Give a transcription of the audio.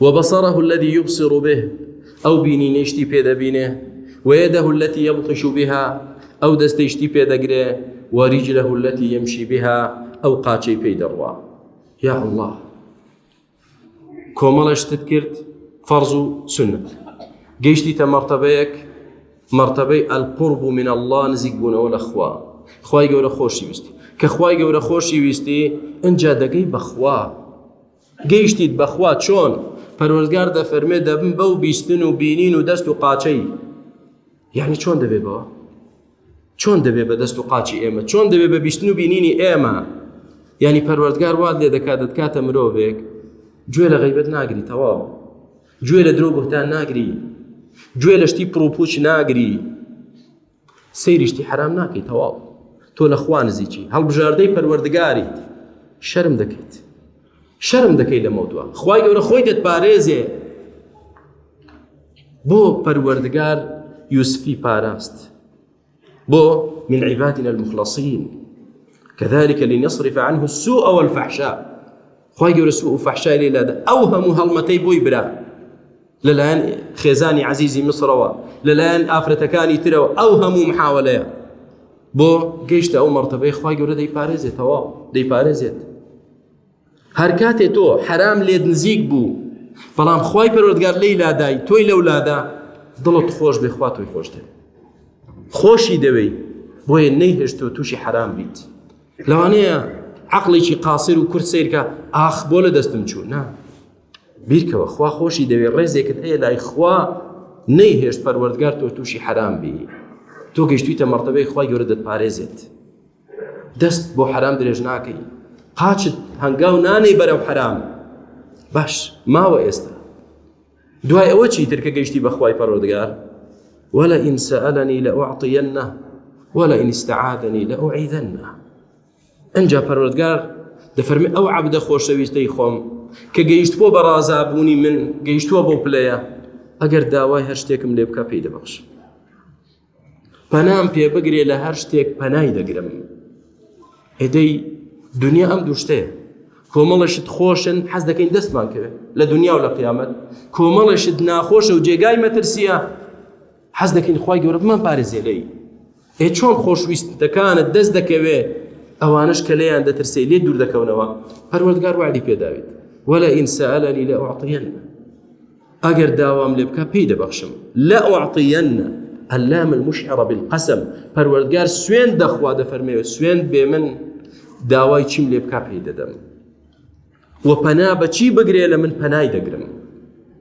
وبصره الذي يبصر به ئەو بینینەی شتی پێ دەبینێ وەیەدەه التي يبطش بها ئەو دەستەی شتی پێ دەگرێ وەریجله التي يمشي بها ئەو قاچەی پێی دەڕوا یا الله کۆمەڵە شتت کرد فەرز و سنت گەیشتی تە مەرتەبەیەک مەرتەبەی ئەلقرب و من الله نزیک بوونەوە لە خوا خی گەورە خۆشی ویستی کە خی گەورە خۆشی ویستی ئەجا دەگەی بەخوا گەیشتیت بەخوا چۆن پەروەردگار دەفەرمێ دەبم بەو بیستن و بینین و دەست و قاچەی یعنی چۆن دەبێ بەوە چۆن دەبێ بە دەست و قاچی ئێمە چۆن دەبێ بە بیستن و بینینی ئێمە یعنی پەروەردگار وات لێ دەکات دەتکاتە مرۆڤێک گوێ لە غیبەت ناگری تەواو گوێ لە درۆ بهتان ناگری گوێ لە شتی پڕوپوچ ناگری سەیری شتی حەرام ناکەی تەواو تۆ لە خوا نزیکی هەڵبژاردەی پەروەردگاریت شەرم دەکەیت شەرم دەکەی لە مەودووە خوای گەورە خۆی دەت پارێزێ بۆ پەروەردگار یوسفی پاراست بۆ من عیباتنا المخلصین كذلك لنصرف عنه السوء والفحشاء خوای گەورە سوء و فحشای لێ لادە ئەو هەموو هەڵمەتەی بۆی برا لەلایەن خێزانی عەزیزی میسرەوە لەلایەن ئافرەتەکانی ترەوە ئەو هەموو محاولەیە بۆ گەیشتە ئەو مەرتەبەی خخوای گەورە دەیپارێزێت تەواو دەیپارێزێت هەر کاتێ تۆ حرام لێت نزیک بوو بەڵام خی پەرۆردگار لی لادای تۆی لەو لادا دڵت خۆش بێ خوا تۆی خۆش دەێت خۆشی دەوێی بۆیە نەیهێشت تۆ تووشی حرام بیت لەوانەیە عقلێکی قاسر و کورد سیرکە ئاخ بۆ لە دەستم چوو نا بیرکەوە خوا خۆشی دەوێ ڕێزێکت هەیە لای خوا نەیهێشت پەروەردگار تۆ تووشی حەرام بی تۆ گەشتویتە مەرتەبەی خوای گەورە دەتپارێزێت دەست بۆ حەرام درێژ ناکەی قاچت هەنگاو نانەی بەرەو حەرام باش ماوە ئێستا دوای ئەوە چی ترکە گەشتی بەخوای پەرۆدگار ولا ئینسەلنی لە ئۆعطیەنە ولا ئینستعادنی لە ئۆعیدنە ئەجا پەروەردگار دەفەرمی ئەو عبدە خۆشەویستەی خۆم کە گەیشتبووە بە ڕازابوونی من گەیشتووە بۆ پلەیە ئەگەر داوای هەر شتێکم لێ بکە پێی دەبخش پەنام پێ بگرێ لە هەر شتێک پەنای دەگرم ئێدەی دنیا ئەم دوشتەیە کۆمەڵەشت خۆشن حەز دەکەین دەستمان کرد لە دنیا و لە قیامەت کۆمەڵەشت ناخۆشە و جێگای مەترسیە حەز دەکەین خوای گەورە بمان پارێزێ لێی ئێ چۆن خۆشویستەکانت دەست دەکەوێ ئەوانش کە لێیان دەترسێ لێ دوور دەکەونەوە پەروەردگار وعدی پێداوێت ولا ئینسەلەنی لە ئۆعطیەن ئەگەر داوام لێ بکە پێی دەبەخشم لە ئۆعطیەن اللام المشعرە بالقسم پەروەردگار سوێن دەخوا دەفەرمێوە سوێن بێ من داوای چیم لێ بکە پێی دەدەم و پەنا بەچی بگرێ لە من پەنای دەگرم